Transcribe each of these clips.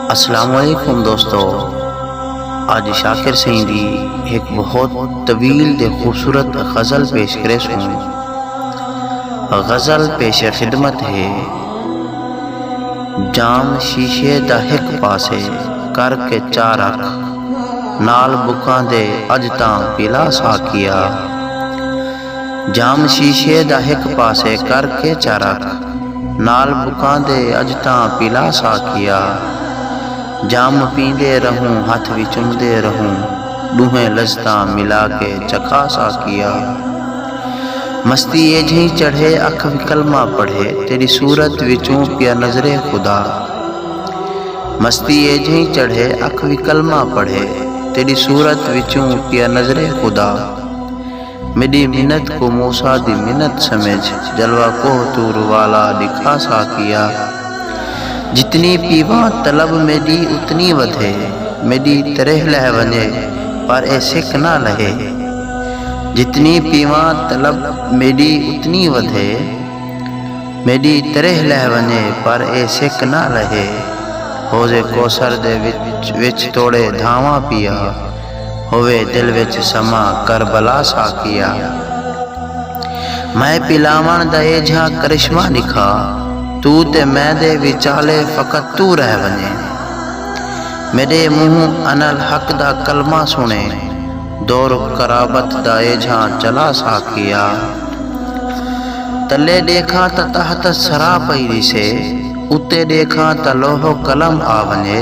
السلام علیکم دوستو اج شاکر سئیں دی ہک بہت طویل تے خوبصورت غزل پیش کرے سوں غزل پیش خدمت ہے جام شیشے دا ہک پاسے کر کے چا رکھ نال بکاں دے اج تاں پیلا ساکیا جام شیشے دا ہک پاسے کر کے چا رکھ نال بکاندے اج تاں پیلا سا کیا جام پیندے رہوں ہتھ وی چمدے رہوں ڈوہیں لذتاں ملا کے چکھا سا کیا مستی ایجھیں چڑھے اکھ وی کلمہ پڑھے تیڈی صورت وچوں پیا نظرے خدا مستی ایجھیں چڑھے اکھ وی کلمہ پڑھے تیڈی صورت وچوں پیا نظرے خدا۔ میݙی منت کوں موسی دی منت سمجھ جلوہ کوہ طور والا ݙکھا ساقیا جتنی پیواں طلب میݙی اتنی ودھے میݙی تریہہ لہہ ونڄے پر اے سک نہ لہے جتنی پیواں طلب میݙی اتنی ودھے میݙی تریہہ لہہ ونڄے پر اے سک نہ لہے حوض کوثر دے وچ توڑے دھاواں پیا۔ ہووے دل وچ سما کربلا ساقیا میں پلاوݨ دا ایجھا کرشمہ ݙکھا تو تے میں دے وچالے فقط تو رہ ونڄیں میݙے منہوں اناالحق دا کلمہ سݨے دور قرابت دا ایجھا چلا ساقیا تلے ݙیکھاں تاں تحت الثری پئی ݙیسے اتے ݙیکھاں تاں لوح و قلم آ ونڄے۔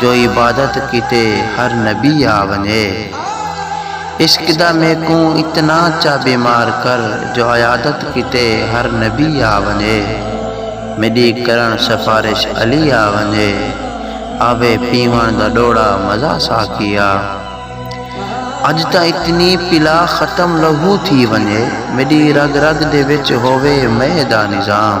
جو عبادت کیتے ہر نبی آ ونجے۔ عشق دا میکوں اتنا چا بیمار کر جو عیادت کیتے ہر نبی آ ونجے۔ میڈی کرن سفارش علی آ ونجے۔ آوے پیون دا ڈوڑا مزہ ساقیا۔ اج تاں اتنی پلا ختم لہو تھی ونجے۔ میڈی رگ رگ دے وچ ہووے مئے دا نظام۔